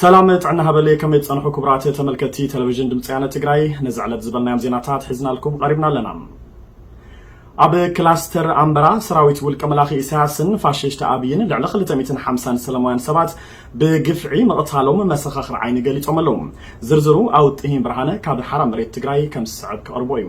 ሰላም ጥዕና ሃበለይ ከመይ ትጸንሑ ክቡራት ተመልከቲ ቴሌቪዥን ድምፂ ያነ ትግራይ ነዚ ዕለት ዝበልናዮም ዜናታት ሒዝናልኩም ቐሪብና ኣለና ኣብ ክላስተር ኣምበራ ሰራዊት ውልቀ መላኺ ኢሳያስን ፋሽሽቲ ኣብይን ልዕሊ 250 ሰላማውያን ሰባት ብግፍዒ ምቕታሎም መሰኻኽር ዓይኒ ገሊፆም ኣለዉ ዝርዝሩ ኣውጥሂን ብርሃነ ካብ ሓራ መሬት ትግራይ ከም ዝስዕብ ክቕርቦ እዩ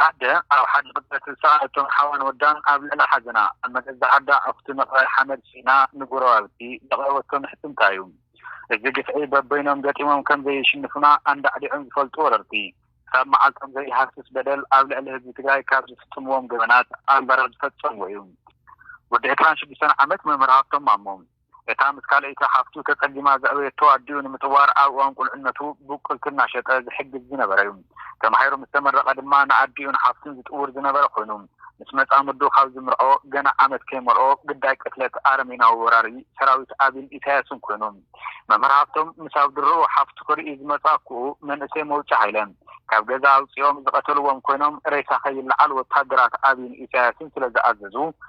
ኣደ ኣብ ሓደ ቅጽበት ዝሰኣለቶም ሓዋን ወዳን ኣብ ልዕሊ ሓዘና ኣብ መገዛ ዓዳ ኣኹቲ ምቕባር ሓመድ ስኢና ንጎረባብቲ ዘቕረበቶ ምሕጽንታ'ዩ። እዚ ግፍዒ በበይኖም ገጢሞም ከም ዘይሽንፉና ኣንዳዕዲዖም ዝፈልጡ ወረርቲ፣ ክሳብ መዓልቶም ዘይሃስስ በደል ኣብ ልዕሊ ህዝቢ ትግራይ ካብ ዝፍጽምዎም ገበናት ኣንበራ ዝፈጸምዎ'ዩ። ወዲ ዕስራን ሽዱሽተን ዓመት መምህር ሃብቶም ማሞ። እታ ምስ ካልኣይቲ ሓፍቱ ተጸጊማ ዘዕበየቶ ኣዲኡ ንምጥዋር ኣብ እዋን ቁልዕነቱ ብቁልቲ እናሸጠ ዝሕግዝ ዝነበረ'ዩ። ተማሂሩ ምስ ተመረቐ ድማ ንኣዲኡን ሓፍቱን ዝጥውር ዝነበረ ኮይኑ፣ ምስ መጻምዱ ካብ ዝምርዖ ገና ዓመት ከይመልኦ ግዳይ ቅትለት ኣረሜናዊ ወራሪ ሰራዊት ኣቢን ኢሳያስን ኮይኑ። መምህር ሃፍቶም ምስ ኣብ ድሮኡ ሓፍቱ ክርኢ ዝመጾ ኣኩኡ መንእሰይ መውጫ ሃይለ ካብ ገዛ ኣውጺኦም ዝቐተልዎም ኮይኖም ሬሳ ከይለዓል ወተሃደራት ኣቢን ኢሳያስን ስለዝኣዘዙ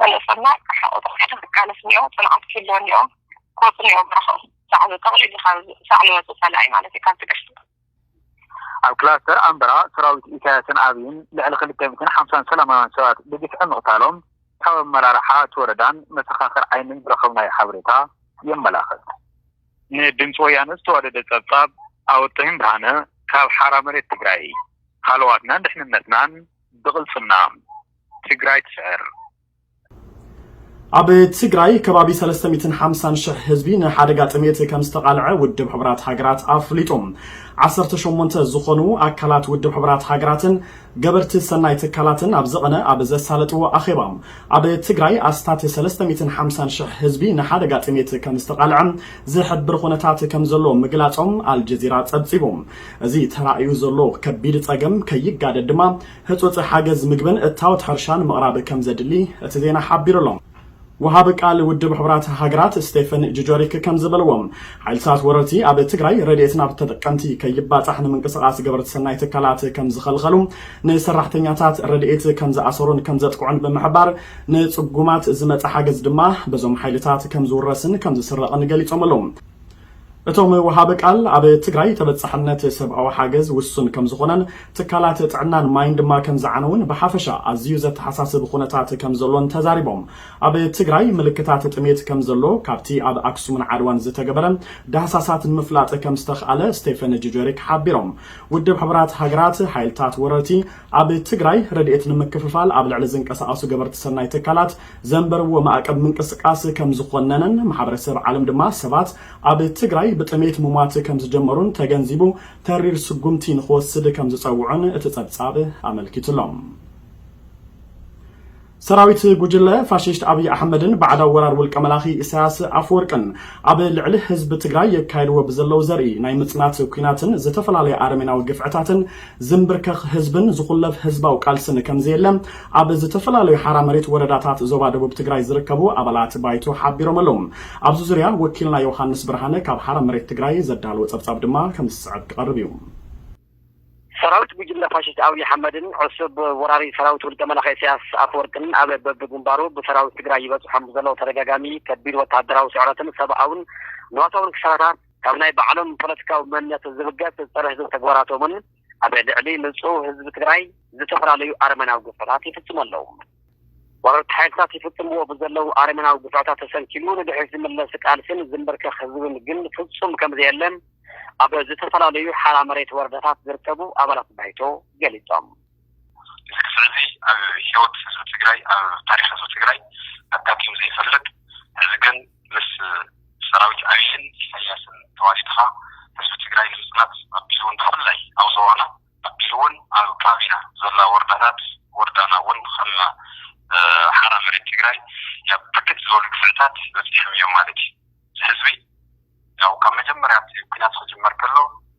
ካልእ ሰናይ ክሓቑ ተባሂሉ ክቃለስ እኒኦ፣ ፅንዓት ክህልዎ እኒኦ፣ ክወፁ እኒኦ በረኽኡ። ሳዕሉ ጠቕሊሉ ካብ ሳዕሉ ወፁ ፀላኢ ማለት እዩ ካብቲ ቀሽቲ። ኣብ ክላስተር ኣምበራ ሰራዊት ኢሳያስን ኣብይን ልዕሊ ክልተ ሚእትን ሓምሳን ሰላማውያን ሰባት ብግፍዒ ምቕታሎም ካብ ኣመራርሓ እቲ ወረዳን መሰኻኽር ዓይንን ዝረኸብናዮ ሓበሬታ የመላኽት። ንድምፂ ወያነ ዝተዋደደ ፀብፃብ ኣወጥሒም ብርሃነ ካብ ሓራ መሬት ትግራይ። ሃለዋትናን ድሕንነትናን ብቕልፅምና! ትግራይ ትስዕር! ኣብ ትግራይ ከባቢ ሰለስተ ሚእትን ሓምሳን ሽሕ ህዝቢ ንሓደጋ ጥሜት ከም ዝተቓልዐ ውድብ ሕቡራት ሃገራት ኣፍሊጡ። ዓሰርተ ሸሞንተ ዝኾኑ ኣካላት ውድብ ሕቡራት ሃገራትን ገበርቲ ሰናይ ትካላትን ኣብ ዝቐነ ኣብ ዘሳለጥዎ ኣኼባ፣ ኣብ ትግራይ ኣስታት ሰለስተ ሚእትን ሓምሳን ሽሕ ህዝቢ ንሓደጋ ጥሜት ከም ዝተቓልዐ ዝሕብር ኹነታት ከም ዘሎ ምግላፆም ኣልጀዚራ ፀብፂቡ። እዚ ተራእዩ ዘሎ ከቢድ ፀገም ከይጋደድ ድማ፣ ህጹጽ ሓገዝ ምግብን እታወት ሕርሻን ምቕራብ ከምዘድሊ እቲ ዜና ሓቢሩ ኣሎ። ወሃቢ ቃል ውድብ ሕቡራት ሃገራት ስቴፈን ጁጆሪክ ከምዝበልዎ፣ ሓይልታት ወረርቲ ኣብ ትግራይ ረድኤት ናብ ተጠቀምቲ ከይባጻሕ ንምንቅስቓስ ገበርቲ ሰናይ ትካላት ከምዝኸልኸሉ፣ ንሰራሕተኛታት ረድኤት ከምዝኣሰሩን ከምዘጥቅዑን ብምሕባር፣ ንጽጉማት ዝመጸ ሓገዝ ድማ በዞም ሓይልታት ከምዝውረስን ከምዝስረቕን ገሊጾም ኣለዉ። እቶም ወሃቢ ቃል፣ ኣብ ትግራይ ተበፃሕነት ሰብኣዊ ሓገዝ ውሱን ከምዝኾነን ትካላት ጥዕናን ማይን ድማ ከምዝዓነዉን ብሓፈሻ ኣዝዩ ዘተሓሳስብ ኹነታት ከምዘሎን ተዛሪቦም። ኣብ ትግራይ ምልክታት ጥሜት ከምዘሎ ካብቲ ኣብ ኣክሱምን ዓድዋን ዝተገበረ ዳህሳሳት ንምፍላጥ ከምዝተኽኣለ ስቴፈን ጁጀሪክ ሓቢሮም። ውድብ ሕቡራት ሃገራት፣ ሓይልታት ወረርቲ ኣብ ትግራይ ረድኤት ንምክፍፋል ኣብ ልዕሊ ዝንቀሳቐሱ ገበርቲ ሰናይ ትካላት ዘንበርዎ ማዕቀብ ምንቅስቃስ ከምዝኾነነን ማሕበረሰብ ዓለም ድማ ሰባት ኣብ ትግራይ ብጥሜት ሙሟት ከምዝጀመሩን ተገንዚቡ ተሪር ስጉምቲ ንኽወስድ ከምዝፀውዑን እቲ ፀብፃብ ኣመልኪቱ'ሎ። ሰራዊት ጉጅለ ፋሽስት ኣብይ ኣሕመድን ባዕዳዊ ወራር ውልቀ መላኺ ኢሳያስ ኣፈወርቅን ኣብ ልዕሊ ህዝቢ ትግራይ የካይድዎ ብዘለው ዘርኢ ናይ ምፅናት ኲናትን ዝተፈላለየ ኣረሜናዊ ግፍዕታትን ዝምብርከኽ ህዝብን ዝኹለፍ ህዝባዊ ቃልስን ከምዘየለ ኣብ ዝተፈላለዩ ሓራ መሬት ወረዳታት ዞባ ደቡብ ትግራይ ዝርከቡ ኣባላት ባይቶ ሓቢሮም ኣለው። ኣብዚ ዙርያ ወኪልና ዮውሃንስ ብርሃነ ካብ ሓራ መሬት ትግራይ ዘዳለዎ ፀብፃብ ድማ ከምዚ ዝስዕብ ክቐርብ እዩ። ሰራዊት ጉጅለ ፋሽስት ኣብይ ኣሕመድን ዕሱብ ወራሪ ሰራዊት ውልቀ መላኺ ኢሳያስ ኣፈወርቅን ኣብ በቢግንባሩ ብሰራዊት ትግራይ ይበፅሖም ብዘሎ ተደጋጋሚ ከቢድ ወታደራዊ ስዕረትን ሰብኣውን ንዋታውን ክሳራታት ካብ ናይ ባዕሎም ፖለቲካዊ መንነት ዝብገስ ፀረ ህዝቢ ተግባራቶምን ኣብ ልዕሊ ንፁህ ህዝቢ ትግራይ ዝተፈላለዩ ኣረመናዊ ግፍዕታት ይፍፅሙ ኣለው። ወረርቲ ሓይልታት ይፍፅምዎ ብዘለው ኣረመናዊ ግፍዕታት ተሰንኪሉ ንድሕሪት ዝምለስ ቃልሲን ዝምብርከኽ ህዝብን ግን ፍፁም ከምዘየለ ኣብ ዝተፈላለዩ ሓራ መሬት ወረዳታት ዝርከቡ ኣባላት ባይቶ ገሊፆም። ልክዕ እዚ ኣብ ሂወት ህዝቢ ትግራይ ኣብ ታሪኽ ህዝቢ ትግራይ ኣጋጢሙ ዘይፈልጥ ሕዚ ግን ምስ ሰራዊት ኣብይን ኢሳያስን ተዋዲድኻ ህዝቢ ትግራይ ንምፅናት ኣቢሉ እውን ብፍላይ ኣብ ዞባና ኣቢሉ እውን ኣብ ከባቢና ዘላ ወረዳታት ወረዳና እውን ከም ሓራ መሬት ትግራይ ናብ ብርክት ዝበሉ ግፍዕታት በፂሖም እዮም ማለት እዩ። እዚ ህዝቢ ያው ካብ መጀመርያ እቲ ኩናት ክጅመር ከሎ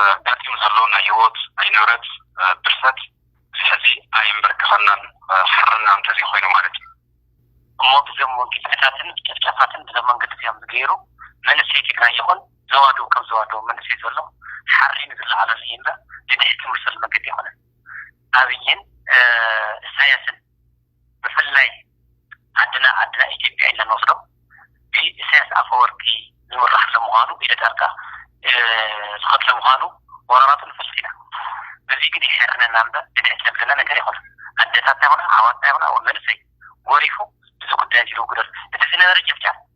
ኣጋጢሙ ዘሎ ናይ ህይወት ናይ ንብረት ብርሰት እዚ ሕዚ ኣየምበርከኸናን ሓርና እንተዘይኮይኑ ማለት እዩ እሞ ብዞም ግፍዕታትን ጨፍጫፋትን ብዞም መንገዲ እዚኦም ዝገይሩ መንእሰይ ትግራይ ይኹን ዞባ ዶብ ከም ዞባ ዶብ መንእሰይ ዘሎ ሓሪኑ ዝለዓለሉ እዩ እምበር ንድሕቲ ዝምልሰሉ መንገዲ ኣይኮነን ኣብይን እሳያስን ብፍላይ ዓድና ዓድና ኢትዮጵያ ኢልና ንወስዶ ብኢሰያስ ኣፈወርቂ ዝምራሕ ስለምዃኑ ኢደ ጣልቃ ዝኸድ ስለምዃኑ ወራራቱ ንፈልጥ ኢና በዚ ግን የሕርነና እምበር ብልዕቲ ዘብለና ነገር የኾነን ኣደታትና ይኹና ኣሕዋትና ይኹና መንእሰይ ጎሪፉ እዚ ጉዳይ እዚ ልውግደሉ እቲ ዝነበረ ጭፍጫፍ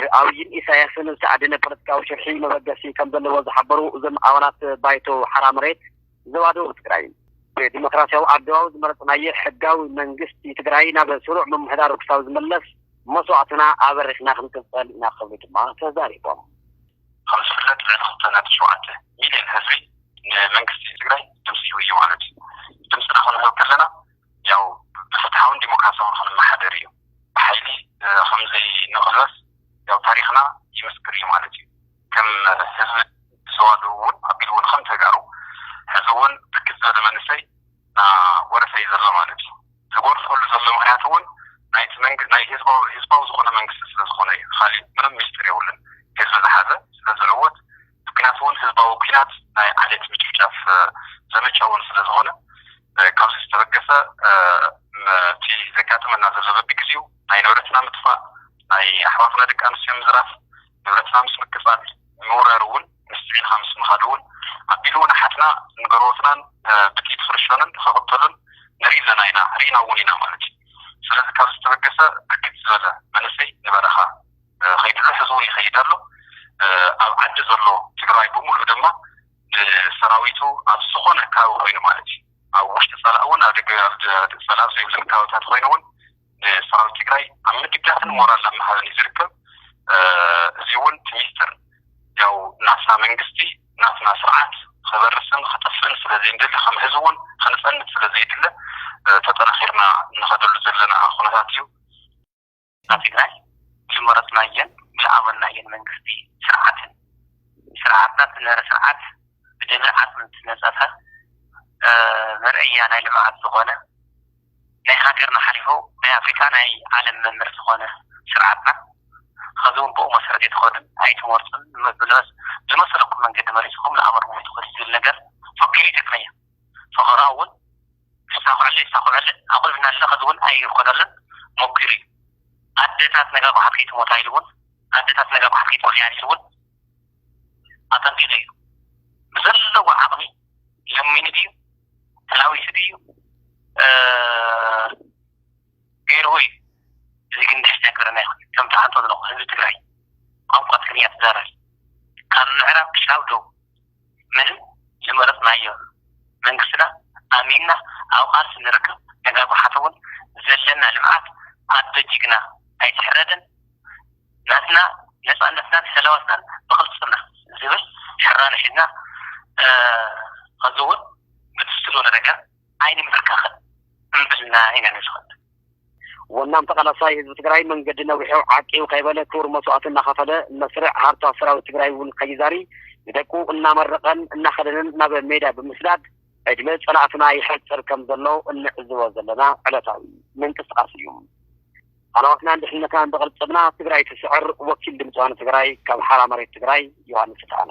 ብኣብይን ኢሳያስን ዝተኣደነ ፖለቲካዊ ሽርሒ መበገሲ ከምዘለዎ ዝሓበሩ እዞም ኣባላት ባይቶ ሓራ መሬት ዞባ ደቡብ ትግራይ፣ ብዲሞክራሲያዊ ኣገባብ ዝመረፅናዬ ሕጋዊ መንግስቲ ትግራይ ናብ ስሩዕ ምምሕዳሩ ክሳብ ዝምለስ መስዋእትና ኣበሪኽና ክንቅፅል ኢና ክብሉ ድማ ተዛሪቦም። ከም ዝፍለጥ ልዕሊ ክልተ ነጥቢ ሸውዓተ ሚልየን ህዝቢ ንመንግስቲ ትግራይ ድምፂ ሂቡ እዩ ማለት እዩ። ድምፅና ክንህብ ከለና ያው ብፍትሓውን ዲሞክራሲያውን ኽንመሓደር እዩ። ብሓይሊ ኸምዘይንቕለስ ያው ታሪኽና ይምስክር እዩ ማለት እዩ። ከም ህዝቢ ዞባ ደቡብ ውን ኣቢሉ ውን ኸም ተጋሩ ሕዚ ውን ብርክት ዝበለ መንእሰይ ናወረሰ እዩ ዘሎ ማለት እዩ። ዝጎርሰሉ ዘሎ ምኽንያት ውን ናይቲ መንግ ናይ ህዝባዊ ህዝባዊ ዝኾነ መንግስቲ ስለዝኾነ እዩ። ኻሊእ ምንም ሚስጢር የብሉን ህዝቢ ዝሓዘ ስለዝዕወት ምክንያቱ'ውን ህዝባዊ ኲናት ናይ ዓሌት ምጭፍጫፍ ዘመቻ'ውን ስለዝኾነ፣ ካብዚ ዝተበገሰ እቲ ዘጋጥመና ዘሎ በቢግዜኡ ናይ ንብረትና ምጥፋእ፣ ናይ ኣሕዋትና ደቂ ኣንስትዮ ምዝራፍ፣ ንብረትና ምስ ምቅጻል፣ ምውራር'ውን ምስቲ ዒልኻ ምስ ምኻድ'ውን ኣቢሉ'ውን ኣሓትና ንገርዎትናን ብጥይት ክርሸኑን ክቕተሉን ንርኢ ኣለና ኢና ርኢና'ውን ኢና ማለት'ዩ። ስለዚ ካብዚ ዝተበገሰ ብርክት ዝበለ መንእሰይ ንበረኻ። ከይድሎ ሕዝውን ይኸይድ ኣሎ ኣብ ዓዲ ዘሎ ትግራዋይ ብሙሉእ ድማ ንሰራዊቱ ኣብ ዝኾነ ካባቢ ኮይኑ ማለት እዩ ኣብ ውሽጢ ፀላእ እውን ኣብ ደገ ፀላእ ኣብ ዘይብለን ካባብታት ኮይኑ እውን ንሰራዊት ትግራይ ኣብ ምድጋፍን ሞራል ኣብ ምሃብን እዩ ዝርከብ እዚ እውን እቲ ሚስጥር ያው ናትና መንግስቲ ናትና ስርዓት ክበርስን ክጥፍእን ስለዘይንደሊ ከም ህዝቢ እውን ክንፀንት ስለዘይድለ ተጠናኺርና እንኸደሉ ዘለና ኩነታት እዩ ኣብ ትግራይ ብዝመረፅናዮን ብዝኣመንናዮን መንግስቲ ስርዓትን ስርዓትና ዝነበረ ስርዓት ብደምን ዓፅምን ዝተነፀፈ መርኣያ ናይ ልምዓት ዝኾነ ናይ ሃገርና ሓሊፉ ናይ ኣፍሪካ ናይ ዓለም መምህር ዝኾነ ስርዓትና ኸዚ እውን ብኡ መሰረት ኣይትኸዱን ኣይትመርፁን ብዝመሰለኩም መንገዲ መሪፅኹም ንኣመር ሞይትኹም ዝብል ነገር ፈኪሩ ይጠቅመያ ፈኸራ እውን ክሳኩዐለይ ይሳኩዐለይ ኣቁልዕ እናድለ ከዚ ውን ኣይኮነሉን ሞኪሩ እዩ ኣደታት ነጋ ጓሓፍ ከይትሞታ ኢሉ ውን ኣደታት ነጋ ጓሓፍ ከይትኮንያ ኢሉ ውን ኣጠንቂቁ እዩ ብዘለዎ ዓቅሚ ለሚኑ ድዩ ተላዊሱ ድዩ ገይርዎ እዩ እዚ ግን ንሕና ኣይገበረና ኣይኮነን ከም ትሓንቶ ዘለኩ ህዝቢ ትግራይ ቋንቋ ትግርኛ ትዛረብ ካብ ምዕራብ ክሻብ ደቡብ ምንም ዝመረጽናዮ መንግስትና ኣሚንና ኣብ ቃልሲ ንርከብ ነጋጉሓት ውን ዘለና ልምዓት ኣዶ ጅግና ኣይትሕረድን ናትና ነጻነትናን ሰላዋትናን ብቅልጽምና ዝብል ሕራነ ሒዝና ኸዚ ውን ብትስስር ወለደካ ኣይንምብርከኽን እምብልና ኢና ንዝኽት። ወናም ተቃላሳይ ህዝቢ ትግራይ መንገዲ ነዊሑ ዓቂቡ ከይበለ ክቡር መስዋእቲ እናኸፈለ መስርዕ ሃርታ ሰራዊት ትግራይ እውን ከይዛሪ ንደቁ እናመረቐን እናኸደነን ናብ ሜዳ ብምስዳድ ዕድመ ፀላእትና ይሐፅር ከምዘሎ እንዕዝቦ ዘለና ዕለታዊ ምንቅስቃስ እዩ። ሃለዋትናን ድሕንነትናን ብቅልፅምና ትግራይ ትስዕር ወኪል ድምፂ ዋኒ ትግራይ ካብ ሓራ መሬት ትግራይ ዮሃንስ ስፍሓነ።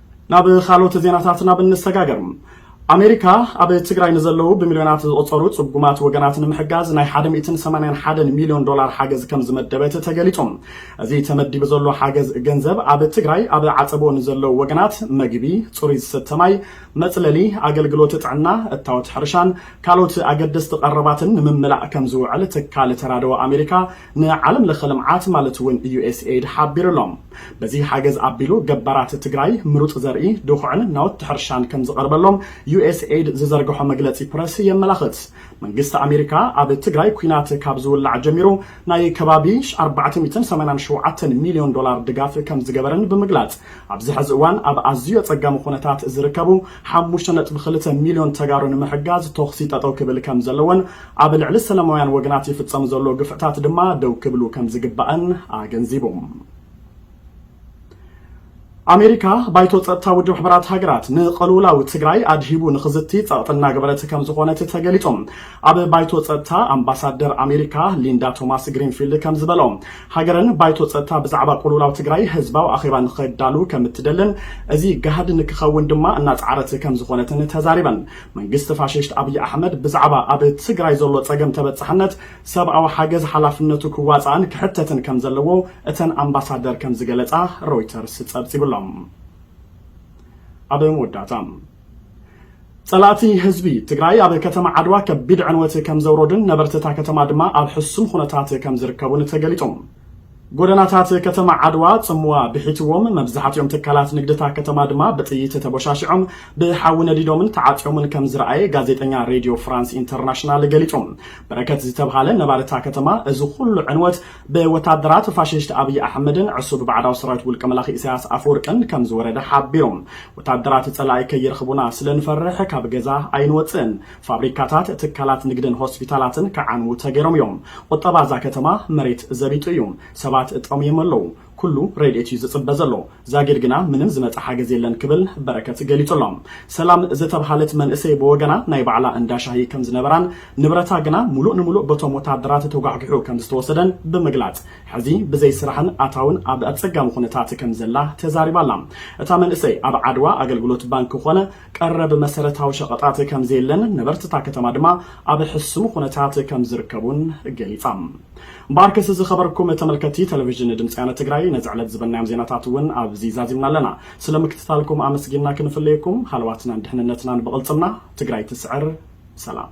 ናብ ኻልኦት ዜናታትና ብንሰጋገር፣ ኣሜሪካ ኣብ ትግራይ ንዘለዉ ብሚልዮናት ዝቑፀሩ ፅጉማት ወገናት ንምሕጋዝ ናይ ሓደ ሚእትን ሰማንያን ሓደን ሚልዮን ዶላር ሓገዝ ከምዝመደበት ተገሊፁ። እዚ ተመዲቡ ዘሎ ሓገዝ ገንዘብ ኣብ ትግራይ ኣብ ዓፀቦ ንዘለዉ ወገናት መግቢ፣ ፅሩይ ዝስተ ማይ፣ መፅለሊ፣ ኣገልግሎት ጥዕና፣ እታወት ሕርሻን ካልኦት ኣገደስቲ ቀረባትን ንምምላእ ከምዝውዕል ትካል ተራድኦ ኣሜሪካ ንዓለም ለኸ ልምዓት ማለት እውን ዩኤስኤይድ ሓቢሩ ኣሎ። በዚ ሓገዝ ኣቢሉ ገባራት ትግራይ ምሩፅ ዘርኢ፣ ድኹዕን ናውቲ ሕርሻን ከምዝቐርበሎም ዩኤስኤይድ ዝዘርገሖ መግለፂ ፕረስ የመላኽት። መንግስቲ ኣሜሪካ ኣብ ትግራይ ኲናት ካብ ዝውላዕ ጀሚሩ ናይ ከባቢ ኣርባዕተ ሚእትን ሰማንያን ሸውዓተን ሚልዮን ዶላር ድጋፍ ከምዝገበረን ብምግላፅ ኣብዚ ሐዚ እዋን ኣብ ኣዝዩ ኣፀጋሚ ኹነታት ዝርከቡ ሓሙሽተ ነጥቢ ክልተ ሚልዮን ተጋሩ ንምሕጋዝ ተኹሲ ጠጠው ክብል ከምዘለዎን ኣብ ልዕሊ ሰላማውያን ወገናት ይፍፀም ዘሎ ግፍዕታት ድማ ደው ክብሉ ከምዝግባእን ኣገንዚቡ። ኣሜሪካ፣ ባይቶ ፀጥታ ውድብ ሕቡራት ሃገራት ንቐልውላው ትግራይ ኣድሂቡ ንኽዝቲ ፀቕጢ እናገበረት ከምዝኾነት ተገሊፁ። ኣብ ባይቶ ፀጥታ ኣምባሳደር ኣሜሪካ ሊንዳ ቶማስ ግሪንፊልድ ከምዝበልኦ፣ ሃገረን ባይቶ ፀጥታ ብዛዕባ ቁልውላው ትግራይ ህዝባዊ ኣኼባ ንኸዳሉ ከምትደልን እዚ ጋህዲ ንክኸውን ድማ እናፀዓረት ከምዝኾነትን ተዛሪበን። መንግስቲ ፋሽስት ኣብይ ኣሕመድ ብዛዕባ ኣብ ትግራይ ዘሎ ፀገም ተበፃሕነት ሰብኣዊ ሓገዝ ሓላፍነቱ ክዋፃእን ክሕተትን ከም ዘለዎ እተን ኣምባሳደር ከም ዝገለፃ ሮይተርስ ፀብፂቡ ኣሎ። ኣብ መወዳእታ ፀላእቲ ህዝቢ ትግራይ ኣብ ከተማ ዓድዋ ከቢድ ዕንወት ከም ዘውረዱን ነበርቲ እታ ከተማ ድማ ኣብ ሕሱም ኹነታት ከም ዝርከቡን ተገሊፁ። ጎደናታት ከተማ ዓድዋ ጽምዋ ብሒትዎም፣ መብዛሕቲኦም ትካላት ንግዲ'ታ ከተማ ድማ ብጥይት ተቦሻሺዖም፣ ብሓዊ ነዲዶምን ተዓጽዮምን ከም ዝረኣየ ጋዜጠኛ ሬድዮ ፍራንስ ኢንተርናሽናል ገሊጹ። በረከት ዝተብሃለ ነባሪ እታ ከተማ፣ እዚ ኹሉ ዕንወት ብወታደራት ፋሽስት ኣብይ ኣሕመድን ዕሱብ ባዕዳዊ ሰራዊት ውልቀ መላኺ ኢሳያስ ኣፈወርቅን ከም ዝወረደ ሓቢሩ። ወታደራት ጸላኢ ከይረኽቡና ስለ ንፈርሕ ካብ ገዛ ኣይንወጽእን። ፋብሪካታት፣ ትካላት ንግድን ሆስፒታላትን ክዓንዉ ተገይሮም እዮም። ቁጠባ እዛ ከተማ መሬት ዘቢጡ እዩ። ሰባት ጠምዮም ኣለዉ። ኩሉ ረድኤት እዩ ዝጽበ ዘሎ። ዛጊድ ግና ምንም ዝመጸ ሓገዝ የለን ክብል በረከት ገሊጹ ኣሎ። ሰላም ዝተብሃለት መንእሰይ ብወገና ናይ ባዕላ እንዳ ሻሂ ከም ዝነበራን ንብረታ ግና ሙሉእ ንሙሉእ በቶም ወታደራት ተጓሕጒሑ ከም ዝተወሰደን ብምግላጽ ሕዚ ብዘይ ስራሕን ኣታውን ኣብ ኣጸጋሚ ኩነታት ከም ዘላ ተዛሪባ ኣላ። እታ መንእሰይ ኣብ ዓድዋ ኣገልግሎት ባንኪ ኮነ ቀረብ መሰረታዊ ሸቐጣት ከምዘየለን ነበርቲ እታ ከተማ ድማ ኣብ ሕሱም ኹነታት ከምዝርከቡን ገሊፃ። እምበኣርከስ ዝኸበርኩም ተመልከትቲ ቴሌቪዥን ድምፂ ወያነ ትግራይ ነዚ ዕለት ዝበልናዮም ዜናታት እውን ኣብዚ ዛዚምና ኣለና። ስለ ምክትታልኩም ኣመስጊንና ክንፍለየኩም ሃለዋትናን ድሕንነትናን ብቕልፅምና። ትግራይ ትስዕር! ሰላም!